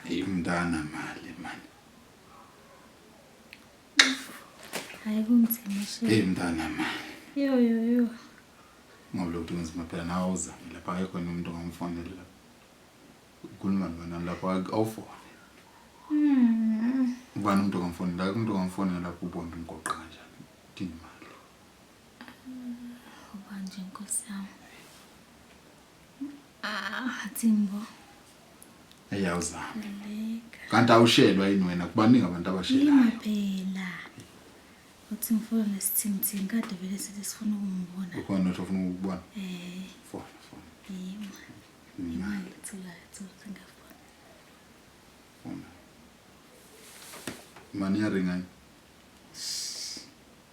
Imntana mali mani. Hayi kunzima shame. Hey mntana mali. Yo yo yo. Ngoba lokhu kunzima phela nawe uzame lapha akekho nomuntu ongamfonela lapha. Ukhuluma nobani lapha awufone. Mm. Ubani umuntu ongamfonela? Umuntu ongamfonela lapha ubona umgoqo kanjani? Udinga imali. Ubanje nkosi yami. Ah, Timbo. Ayawuzama. Kanti awushelwa yini wena kubaningi abantu abashelayo. Yima phela. Uthi ngifuna nesithimthimi kade vele sithi sifuna ukumbona. Ukhona uthi ufuna ukubona? Eh. Fona, fona. Yima. Yima ngithula, ngithula ngafona. Fona. Mani yaringa. Shh.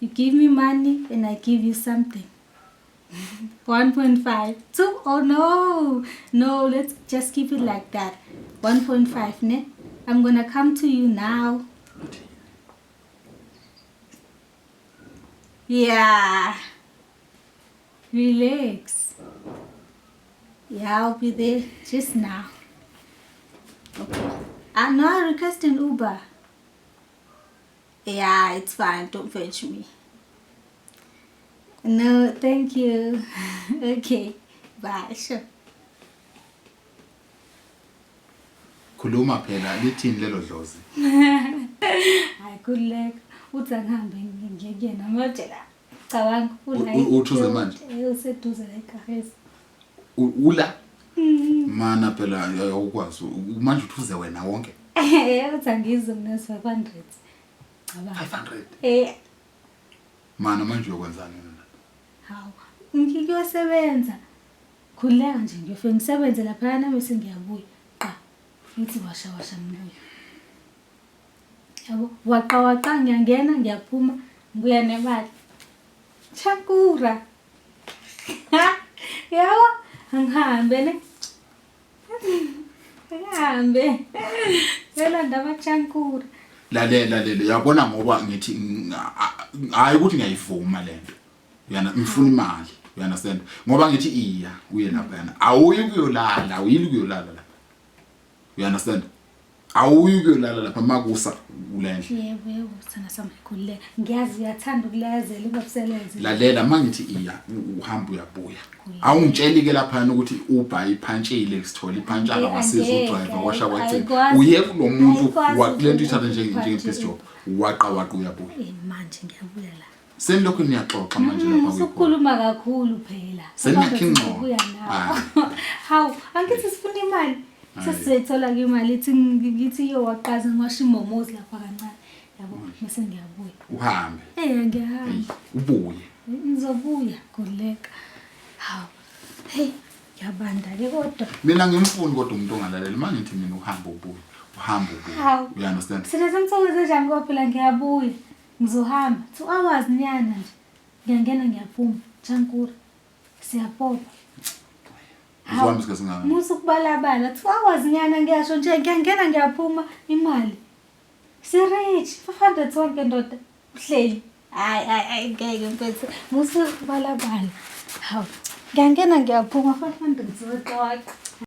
You give me money and I give you something. 1.5 2 oh no no let's just keep it like that 1.5 ne i'm gonna come to you now yeah relax yeah i'll be there just now okay i'm ah, not requesting uber Yeah, it's fine. Don't fetch me. No, thank you. okay. Bye. Sure. khuluma phela lithini lelo dlozi hayi kuleka uthi angihambe ngiyekuyena ngiyojela Cabanga ula. Uthuze manje. Useduze la egarage. Ula. Mm. Mana phela awukwazi. Manje uthuze wena wonke. Eh uthi angizwe mina 500. Cabanga. 500. Eh. Mana manje uyokwenzani mina? Hawu. Ngiyosebenza. Khuleka nje ngiyofika ngisebenze lapha nami sengiyabuya. Qa. Ngithi washa washa ngibuye. yabo waqawaqa ngiyangena ngiyaphuma ngibuya nemali chakura yabo angihambe ne angihambe yolanda amachankura lalela lalela uyabona ngoba ngithi hayi ukuthi ngiyayivuma lento uyana ngifuna imali you understand ngoba ngithi iya uye lapha yana awuyi kuyolala awuyili kuyolala lapha you understand Awuyi kuyolala lapha makusa kulendle. Yebo yebo sana sama khulile. Ngiyazi uyathanda ukulayezela ubabuselenze. Lalela mangithi iya uhamba uyabuya. Awungitsheli ke lapha ukuthi ubha iphantshile sithola iphantshana wasiza udriver washa wacela. Uye kulomuntu wakulento ithatha njenge njenge best job. Waqa waqa uyabuya. Eh, manje ngiyabuya la. Senilokhu niyaxoxa manje lapha kwi. Sokukhuluma kakhulu phela. Senakhe ingxoxo. Hawu, angithi sifuna imali. Sesizothola ke imali ithi ngithi iyo waqaza ngiwasha imomozi lapha kancane. Yabo, mase ngiyabuya. Uhambe. Eh, ngiyahamba. Ubuye. Ngizobuya kuleka. Hawu. Hey, yabanda ke kodwa. Mina ngimfuni kodwa umuntu ongalalela. Mangithi mina uhamba ubuye. Uhamba ubuye. You understand? Sina samthokozela njani kodwa phela ngiyabuya. Ngizohamba two hours nyana nje. Ngiyangena ngiyaphuma. Chankura. Siyapopa. Uzohamba isikhathi ngani? Musa ukubalabala two hours nyana ngiyasho nje ngiyangena ngiyaphuma imali. Sirich 500 sonke ndoda. Uhleli. Hayi hayi hayi ngeke mfethu. Musa ukubalabala. Hawu. Ngiyangena ngiyaphuma 500 zoxoxa.